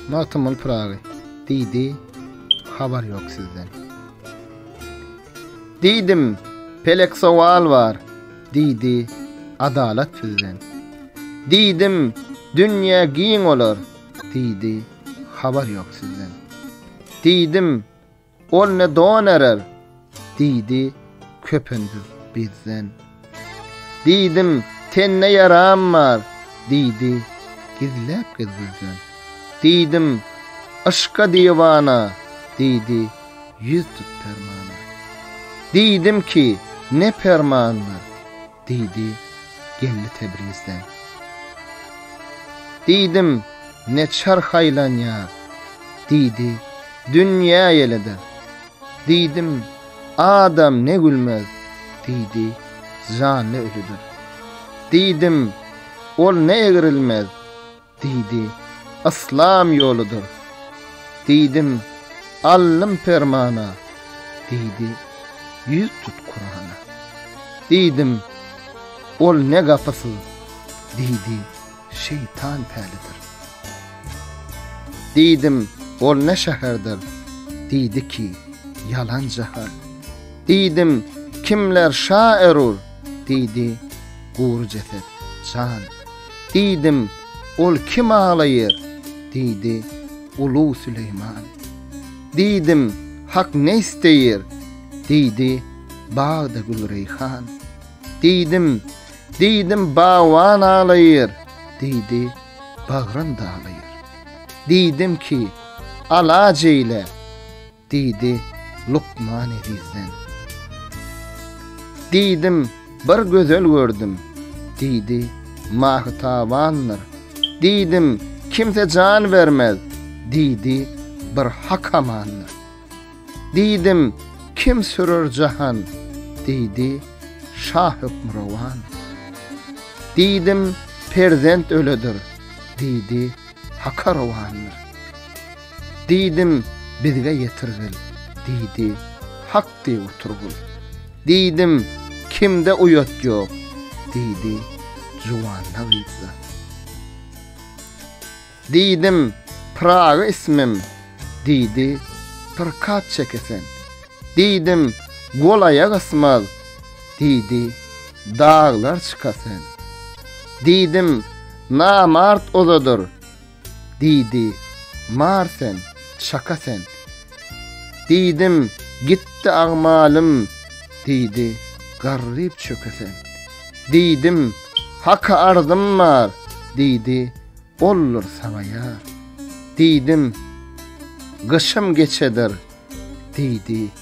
Magtymguly Pyragy diýdi, habar ýok sizden. Diýdim, pelek sowal bar, diýdi, adalat sizden. Diýdim, dünýä giň olar, diýdi, habar ýok sizden. Diýdim, Ol ne don erer? diýdi köpündür bizden. Diýdim, tende ýaram bar, diýdi gizläp-gizgilden. Diýdim, yşka diwana, diýdi ýüz tut permana. Diýdim ki, ne permandyr? Diýdi gelni Tebrizden. Diýdim, ne çarh aýlanýar? Diýdi, dünýä ýelede. Diýdim, adam ne gülmez? Diýdi, janly ölüdir. Diýdim, ol ne egrilmez? Diýdi, Yslam ýoludyr. Diýdim, Aldym permana. Diýdi, Ýüz tut Kurana. Diýdim, Ol ne gapysyl? Diýdi, Şeýtan pälidir. Diýdim, Ol ne şäherdir? Diýdi ki, Ýalan jahan. Diýdim, Kimler şa erur? Diýdi, Gury jeset, jan. Diýdim, Ol kim aglaýar? Diýdi, Ulug Süleýman. Diýdim, Hak ne isleýär? Diýdi, Bagda gül-reýhan. Diýdim, Diýdim, Bagban aglaýar. Diýdi, Bagrym daglaýar. Diýdim ki, Alaç eýle! Diýdi lukman ezizden. Diýdim, bir gözel gördüm. Diýdi, Mahytabandyr. Diýdim, kimse jan bermez. Diýdi, bir Hak amandyr. Diýdim, kim sürer jahan? Diýdi, şa hökmürowan. Diýdim, perzent öledir. Diýdi, Haka rowandyr. Diýdim, bizge ýetirgil, diýdi, Hakdy oturgyl. Diýdim, kimde uýat ýok, diýdi, Juwanda gyzda. Diýdim, Pyragy ismim, diýdi, Pyrkat çekesen. Diýdim, Gol-aýak ysmaz, diýdi, Daglar çykasen. Diýdim, Namart ozadyr, Diýdi, Mar sen, çaka sen. Diýdim, Gitdi agmalym. Diýdi, Garryp çöke sen. Diýdim, Haka arzym bar. Diýdi, Boldur saňa ýar. Diýdim, Gyşym geçedir. Diýdi.